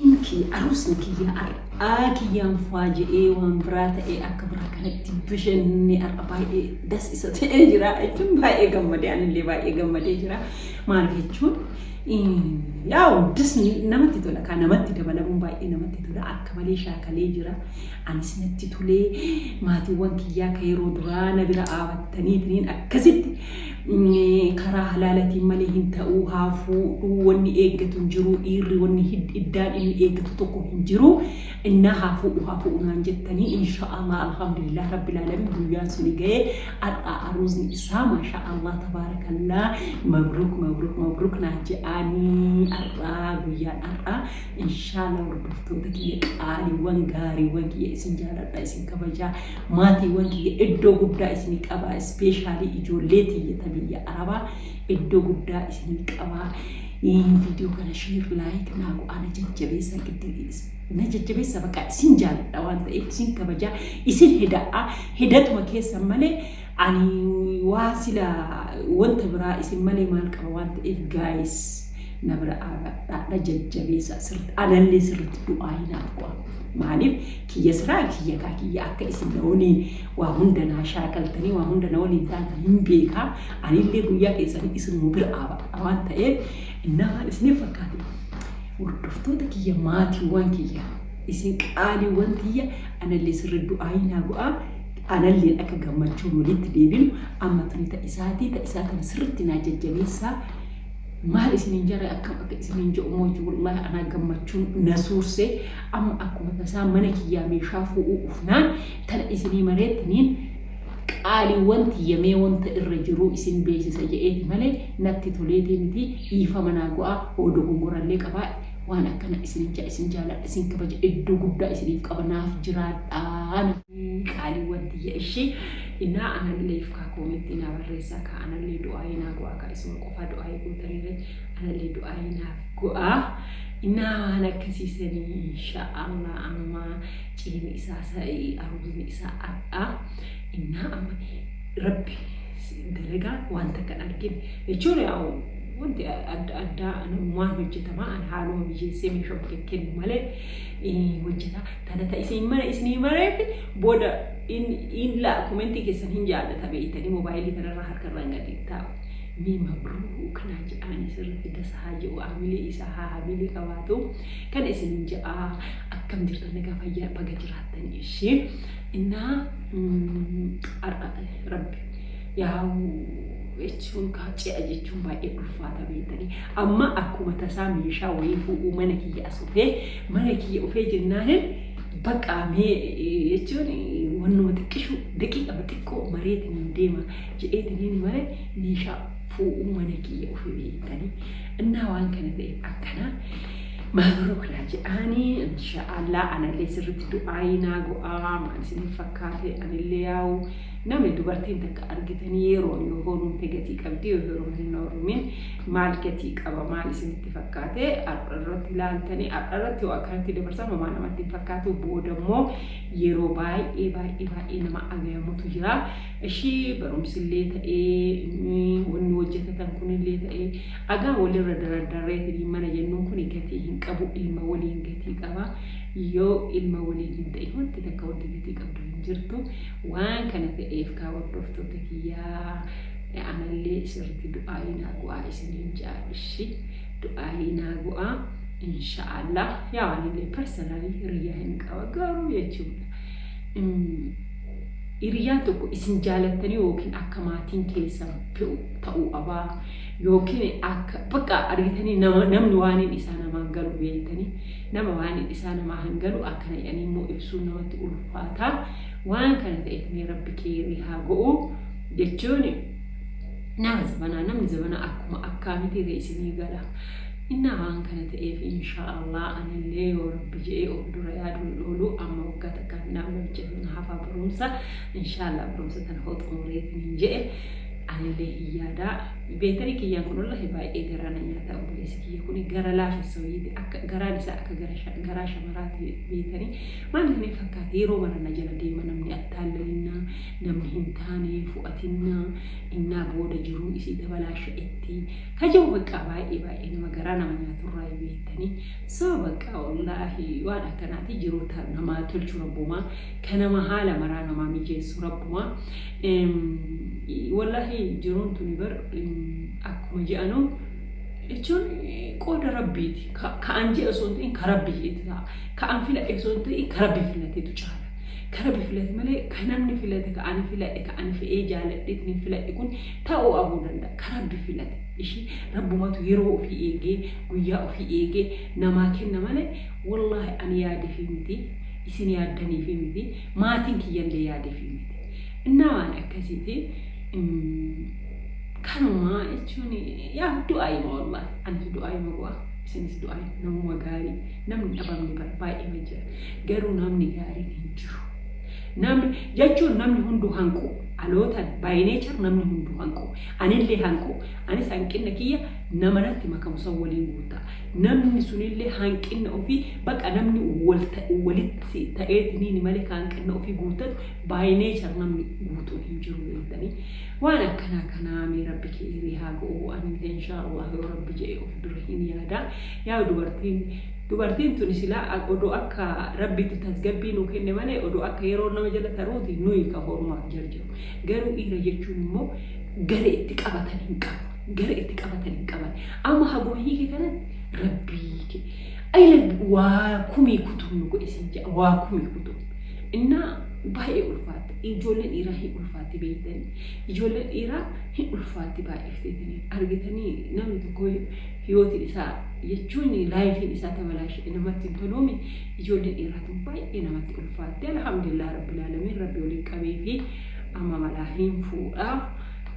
Hin kee arusni kiyyaa ar, aa kiyyaan fwaa je'ee waan biraa ta'ee akka biraa kanatti bashanne ar'a baay'ee das isa ta'ee jira jechuun baay'ee gammadee anillee baay'ee gammadee jira maaliif jechuun yaa'u dasni namatti tola kaa namatti dabalamuun baay'ee namatti tola akka malee shaakalee jira anis natti tolee maatiiwwan kiyyaa ka yeroo duraa na bira aabattaniitiin akkasitti karaa halaalatiin malee hin ta'uu haa fuudhuu wanni eeggatu hin jiruu dhiirri wanni hid- iddaan inni eeggatu tokko hin jiru innaa haa fuudhu haa fuudhu naan jettanii insha Allah alhamdulillah rabbil alamin guyyaan suni ga'ee har'a aruuzni isaa maasha Allah tabaarakallaa mabruuk mabruuk mabruuk naa je'aanii har'aa guyyaan har'aa insha Allah hordoftoota kiyya qaaliiwwan gaariiwwan kiyya isin jaaladha isin kabajaa Maatiiwwan kiyya iddoo guddaa isinii qabaa ispeeshaalii ijoollee tiyya ta biyya arabaa iddoo guddaa isinii qabaa viidiyoo kana sheer laayik naa go'aa na jajjabeessa na jajjabeessa baqaa isin jaaladha waan ta'eef isin kabajaa isin heda'aa hedatuma keessan malee ani waa sila wanta biraa isin malee maal qaba waan ta'eef gaayis na bira aabadhaa na jajjabeessa sirriitti anallee sirriitti du'aa hinaaf go'a. Maaliif kiyya siraa kiyya kaa kiyya akka isin na waliin waa hunda naa shaakaltanii waa hunda na waliin taatan hin beekaa anillee guyyaa keessanii isinuma bira dhaabadha waan ta'eef innaa waan isiniif fakkaate hordoftoota kiyya maatiiwwan kiyya isin qaaliiwwan kiyya anallee sirri du'aayii naa bu'aa analleen akka gammachuun walitti deebinu amma tuni ta isaatii ta isaa kana sirritti naa jajjabeessaa Maal isinin jare akkam akka isinin je'u mooyyu wallahi anaa gammachuun na suurse amma akkuma tasaa mana kiyyaa meeshaa fuu'uu dhufnaan tana isinii mareettiniin qaaliiwwan tiyya mee wanta irra jiruu isin beeysisa je'eeti malee natti toleeti miti dhiifama naa go'aa hoo dogongorallee qabaadhe waan akkana isinin ja'a isin jaaladha isin kabaja iddoo guddaa isiniif qaba naaf jiraadhaa qaaliiwwan tiyya ishi inaa anallee ifkaa koomentii naa barreessaa kaa anallee du'aayii naa go'aa kaa isin Faa du'aayii gootanirratti anallee du'aayii naaf go'aa. Innaa waan akkasiisanii insha Allah amma ciini isaa sa'ii aruuzni isaa adhaa. Innaa amma rabbi dalagaa waan takka hin argine jechuun yaa'u wanti adda addaa waan hojjetamaa an haaluma mijeessee meeshaa bulee kennu malee hojjetaa tana ta isin mana isinii mareef booda in laa komentii keessan hin jaallata beeytanii moobaayilii kanarraa harkarraan gadi taa'u. Mee mabruu kanaa ja'aanii sirritti dasa haa ja'u haamilee isaa haa haamilee qabaatu kana isinin ja'aa akkam jirtan nagaa fayyaa baga jiraattan ishee innaa rabbi yaa'u jechuun kaa ce'a jechuun baay'ee ulfaata beektanii amma akkuma tasaa meeshaa wayii fuudhuu mana kiyya as dhufee mana kiyya dhufee jennaanin baqqaa mee jechuun wannuma xiqqishu daqiiqama xiqqoo mareetiin deema jedheetiniin male meeshaa fuudhuu mana kiyya ofii beektanii innaa waan kana ta'e akkanaa maabrookilaa jedhaanii insha Allah anallee sirritti du'aayii naa go'aa maal isiniif fakkaate anillee yaa'u namni dubartiin takka argitanii yeroo yoo horuumte gatii qabdi yoo heeruun hin horumin maal gatii qaba maal isinitti fakkaate har'a irratti ilaaltanii har'a irratti yoo akkanatti dabarsan homaa namatti hin fakkaatu booda immoo yeroo baay'ee baay'ee baay'ee nama agayamutu jira Ishii barumsillee ta'ee wanni hojjatatan kunillee ta'ee agaa walirra darardarreetinii mana jennuun kuni gatii hin qabu ilma waliin gatii qaba yoo ilma waliin hin ta'in wanti takka wanti gatii qabdu hin jirtu waan kana ta'eef kaa hordoftoota kiyyaa anallee isirratti du'aayii naa go'aa isiniin ja'a ishi du'aayii naa go'aa inshaallah yaa anillee personally hiriyyaa hin qaba garuu jechuudha Hiriyyaan tokko isin jaalattanii yookiin akka maatiin keessan fe'u ta'uu qabaa yookiin akka bakka argitanii nama namni waaniin isaa namaan galu beektanii nama waaniin isaa namaa hin galu akkana jedhanii immoo ibsuun namatti ulfaataa waan kana ta'eef mee rabbi keerii haa go'u jechuun nama zabanaa namni zabanaa akkuma akkaamitii ta'e isinii gala innaa waan kana ta'eef inshaa Allah anillee yoo rabbi jedhee of dura yaaduun oolu amma waggaa kan naa wajjin na hafaa barumsa inshaallah barumsa tana hoo xumureetiin hin je'e anillee hin yaada beetanii kiyyaan kun wallahi baay'ee garaa na nyaata obboleessi kiyya kun gara laafessa wayiiti akka garaan isaa akka gara sha- garaa shamaraati beetanii maal inni fakkaate yeroo mara na jala deema namni attaallalinna namni hin taane fu'atinna innaa booda jiruu isii dabalaasha itti kaja'u baqqaa baay'ee baay'ee nama garaa nama nyaaturraa beektanii Sawa baqqa wallahi waan akkanati jiruu ta namaa tolchu rabbumaa ka nama haala maraa namaa mijeessu rabbumaa wallahi jiruun tuni bar akkuma je'anu jechuun qooda rabbiiti ka an je'e osoo hin ta'in ka rabbi je'etu ta'a ka an filadhe osoo hin ta'in ka rabbi filatetu caala ka rabbi filate malee ka namni filate ka ani filadhe ka ani fe'ee jaaladhe itni filadhe kun ta'uu abuu danda'a ka rabbi filate Ishi rabbumatu yeroo ofii eegee guyyaa ofii eegee namaa kenna malee wollaahi ani yaadefii miti isin yaaddaniifii miti maatiin kiyyallee yaadefii miti innaa waan akkasiiti kanumaa jechuun yaa du'aayima wollaahi anis du'aayima go'a isinis du'aayima namuma gaarii namni dhabamne bara baay'eema jira garuu namni gaariin hin jiru namni jechuun namni hunduu hanqu alootan by nature namni hunduu hanqu Anillee hanquu, anis hanqinna kiyya nama natti makamu san waliin guutta. Namni sunillee hanqinna ofii baqa namni walitti ta'eetiniin malee ka hanqinna ofii guuttatu by nature namni guutuun hin jiru beektanii. Waan akkanaa kanaa mee rabbi keeyrii haa go'u anillee inshaa Allah yoo rabbi je'e of dura hin yaada. Yaa dubartiin dubartiin tuni silaa odoo akka rabbitti tasgabbii nuu kenne malee odoo akka yeroo nama jala taruuti nuyi ka horumaaf jarjaru. Garuu dhiira jechuun immoo gara itti qabatan hin qabu. Gara itti qabatan hin qaban. Amma haguma hiike kanan rabbii ke. Ayila waa kumii kutuun nu godhe sin ja'a waa kumii kutuun. Innaa baay'ee ulfaatte. Ijoollee dhiiraa hin ulfaatti beektanii. Ijoollee dhiiraa hin ulfaatti baay'ifteetanii. Argitanii namni tokko hiyootiin isaa jechuun laayifiin isaa tabalaashe namatti hin toluumi. Ijoollee dhiiraatiin baay'ee namatti ulfaatti alhamdulillah rabbil aalamiin rabbi waliin qabeefi amma malaa hin fuudha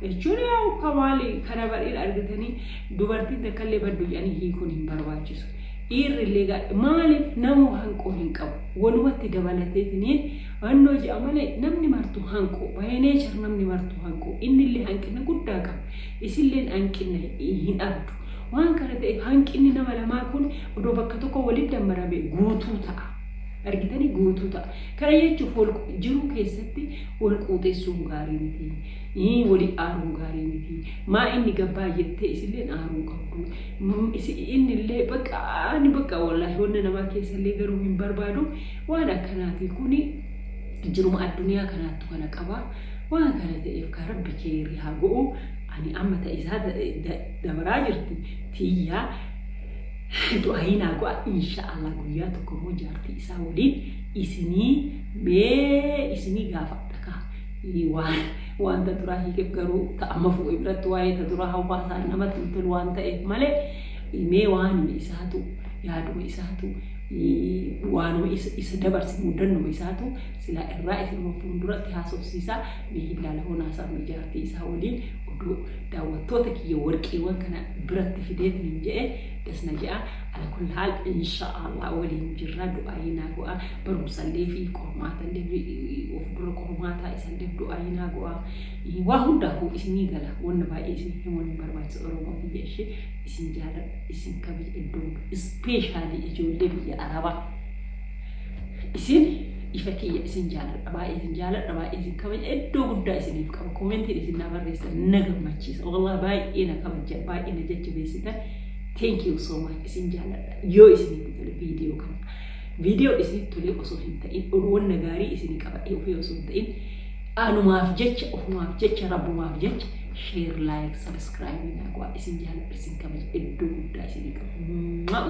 jechuun yaa ukka maali kana bariin argitanii dubartiin takkallee baddu jedhanii hiikuun hin barbaachisu dhiirrillee gaadhe maaliif namuu hanqoo hin qabu walumatti dabalateetiniin hannoo ji'a malee namni martu hanqoo baay'inee jira namni martu hanqoo innillee hanqina guddaa qaba isilleen hanqina hin abdu Waan kana ta'eef hanqinni nama lamaa kun odoo bakka tokko walitti dammarame guutuu ta'a. Argitanii guutuu ta'a. Kana jechuuf wal jiruu keessatti wal quuxessuun gaarii miti. Ii, Wali aaruun gaarii miti. Maa inni gabbaa jettee isilleen aaruu qabdu. Mm, isi- Inni illee bakka ani bakka wallaahi wanna namaa keessa illee garuu hin barbaadu. Waan akkanaatii kuni jiruma addunyaa kanaattu kana qaba. Waan kana ta'eef kaa rabbi keeyri haa go'u. Ani amma ta isaa dabaraa jirti tiyyaa du'aayii naa go'a insha Allah guyyaa tokko immoo jaartii isaa waliin isinii mee isinii gaafadha ka waan waan ta duraa hiikeef garuu ta amma fuudhe biratti waa'ee ta duraa hawaasaan namatti hin tolu waan ta'eef malee mee waanuma isaatu yaaduma isaatu waanuma isa dabarse mudannuma isaatu silaa irraa isin fuulduratti haasofsiisaa Mee hin laala hoon haasawni jaartii isaa waliin oduu daawwattoota kiyya warqiiwwan kana biratti fideetiin hin je'e das na je'a ala kulli haal insha'Allah waliin jirra du'aayii naa go'a barumsallee fi qormaatallee of dura qormaataa isalleef du'aayii naa go'a waa hundaafuu isinii gala wanna baay'ee isin himuun hin barbaachisa oromoo tiyya ishee isin jaaladha isin kabaj iddoo ispeeshaalii ijoollee biyya arabaa isin ifa kiyya isin jaaladha baay'ee isin jaaladha baay'ee isin kabaja iddoo guddaa isiniif qaba koomentiin isin na barreessan na gammachiisa wallah baay'ee na kabaja baay'ee na jajjabeessitan thank you so much isin jaaladha yoo isinitti tole viidiyoo kana viidiyoo isinitti tole osoo hin ta'in oduuwwan na gaarii isin qabadhee ofii osoo hin ta'in anumaaf jecha ofumaaf jecha rabbumaaf jecha sheer laayik sabiskiraayib naa godhaa isin jaaladha isin kabaja iddoo guddaa isinii qaba